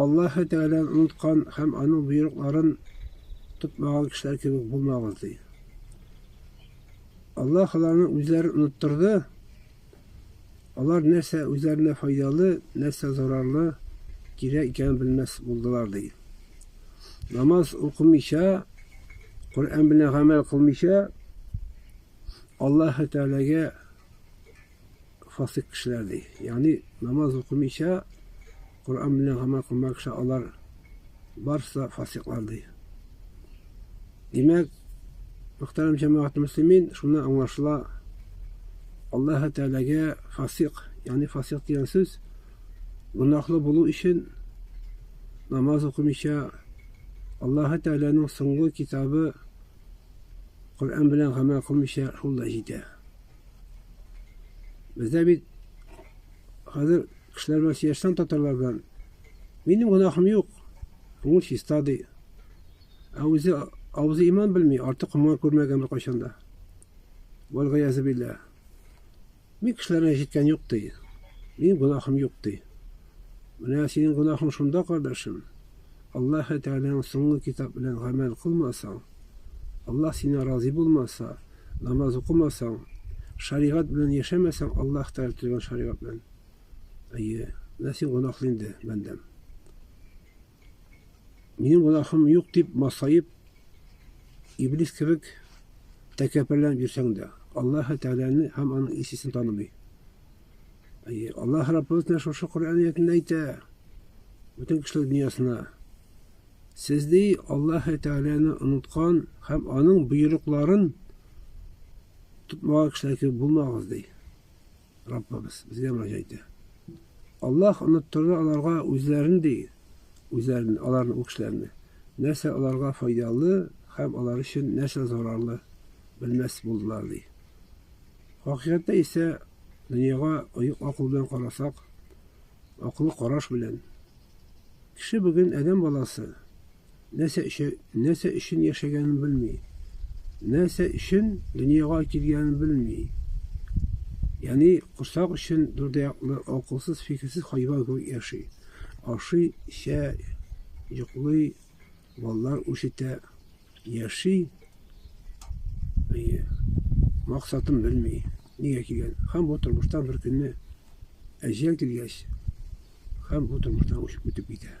Аллаһы Тәгаләне оныткан һәм аның боерыкларын тотмаган кешеләр кебек булмагыз, ди. Аллаһ аларны үзләрен оныттырды. Алар нәрсә үзләренә файдалы, нәрсә зарарлы, кирәк икәнен белмәс булдылар, ди. Намаз укымыйча, Коръән белән гамәл кылмыйча, Аллаһы Тәгаләгә фасыйк кешеләр ди. Ягъни намаз укымыйча, Коръән белән гамәл кылмаган кеше алар барысы да фасыйклар ди. Димәк, мөхтәрәм җәмәгать мөслимин, шуны аңлашыла Аллаһ Тәгаләгә фасыйк, ягъни фасыйк дигән сүз гөнаһлы булу өчен намаз укымыйча Аллаһ Тәгаләнең соңгы китабы Коръән белән гамәл кылмыйча шул да җитә. Бездә бит хәзер кешеләр белән сөйләшсәң татарлар белән, минем гөнаһым юк, күңел чиста ди. Ә үзе авызы иман белми, арты комга күрмәгән беркайчан да. Вәлгаязе биллә. Мин кешеләргә җиткән юк ди. Минем гөнаһым юк ди. Менә синең гөнаһың шунда, кардәшем. Аллаһ Тәгаләнең соңгы китап белән гамәл кылмасаң, Аллаһ сине разый булмаса, Намаз укымасаң, шаригать белән яшәмәсәң, Аллаһ Тәгалә төзегән шаригать белән. Әйе, менә син гөнаһлы инде, бәндәм. Минем гөнаһым юк дип масаеп, иблис кебек тәкәппәрләнеп йөрсәң дә, Аллаһ Тәгаләне һәм аның исесен танымый. Әйе, Аллаһ Раббыбыз менә шушы Коръән әйтә. Бөтен кешелек дөньясына Сез, ди, Аллаһы Тәгаләне оныткан һәм аның боерыкларын тотмаган кешеләр кебек булмагыз, ди. Раббыбыз безгә мөрәҗәгать итә. Аллаһ оныттырды аларга үзләрен, ди, үзләрен, аларны ул кешеләрне. Нәрсә аларга файдалы һәм алар өчен нәрсә зарарлы белмәс булдылар, ди. Хакыйкатьтә исә дөньяга оек акыл белән карасак, Акыллы караш белән. Кеше бүген адәм баласы. Нәрсә өчен, нәрсә өчен яшәгәнен белми. Нәрсә өчен дөньяга килгәнен белми. Яни курсак өчен дүрдәяклы, акылсыз, фикерсез хайван кебек яши. Ашый, эчә, йоклый, Балалар үсетә, яши. Әйе. Максатын белми, нигә килгән. Һәм бу тормыштан бер көнне әҗәл килгәч, һәм бу тормыштан үтеп китә.